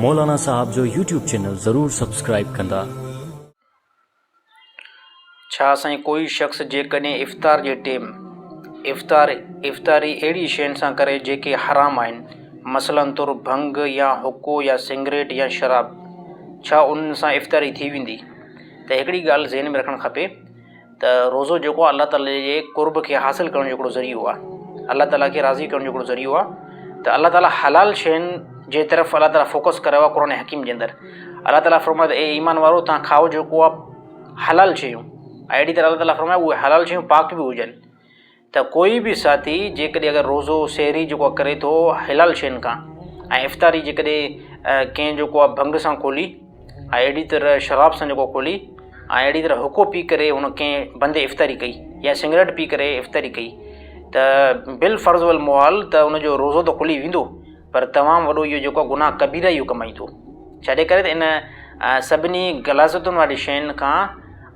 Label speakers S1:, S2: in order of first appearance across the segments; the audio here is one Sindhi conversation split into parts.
S1: مولانا صاحب جو يوٽيوب چينل ضرور سبسڪرائيب ڪندا.
S2: ڇا سائين ڪوئي شخص جيڪڏهن افطار جي ٽيم افطار افطاري اهڙي شين سان ڪري جيڪي حرام آهن مثلا طور ڀنگ يا حقو يا سنگريٽ يا شراب ڇا انهن سان افطاري ٿي ويندي ته هڪڙي ڳالهه ذهن ۾ رکڻ کپي ته روزو جيڪو الله تعالي جي قرب کي حاصل ڪرڻ جو هڪڙو ذريعو آهي الله تعالي کي راضي ڪرڻ جو هڪڙو ذريعو آهي ته الله تعالي حلال شين جي طرف الله تعالي فوڪس ڪريو آهي قرآن حڪيم جي اندر الله تعالي فرمايو ته اي ايمان وارو تان کائو جيڪو آهي حلال شيون اهڙي طرح الله تعالي فرمايو اهي حلال شيون پاڪ به هجن ته ڪوئي به ساٿي جيڪڏهن اگر روزو سحري جيڪو آهي ڪري ٿو حلال شين کان ۽ افطاري جيڪڏهن ڪنهن جيڪو آهي ڀنگ سان کولي ۽ اهڙي طرح شراب سان جيڪو کولي ۽ اهڙي طرح حقو پي ڪري هن ڪنهن بندي افطاري ڪئي يا سگريٽ پي ڪري افطاري ڪئي ته بالفرض والمحال ته ان جو روزو ته کلي ويندو پر تمام وڏو اهو جيڪو گناهه ڪبيره اهو ڪمائيندو ڇڏي ڪري ته ان سڀني غلاظتن واري شين کان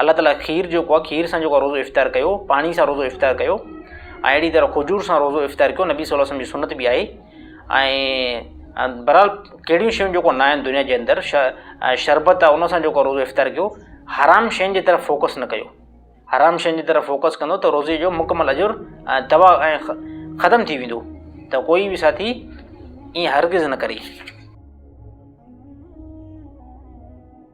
S2: الله تعاليٰ کير جيڪو آهي کير سان جيڪو آهي روزو افطار ڪيو پاڻي سان روزو افطار ڪيو ۽ اهڙي طرح کجور سان روزو افطار ڪيو نبي صلي الله علیه وسلم جي سنت بي آهي ۽ بهرحال ڪهڙيون شيون جيڪو نه آهن دنيا جي اندر شربت آهي ان سان جيڪو روزو افطار ڪيو حرام شين جي طرف فوڪس نه ڪيو حرام شين جي طرف فوڪس ڪندو ته روزي جو مڪمل اجر تباهه ۽ ختم ٿي ويندو ته ڪوئي به ساٿي ائين هرگز نه ڪري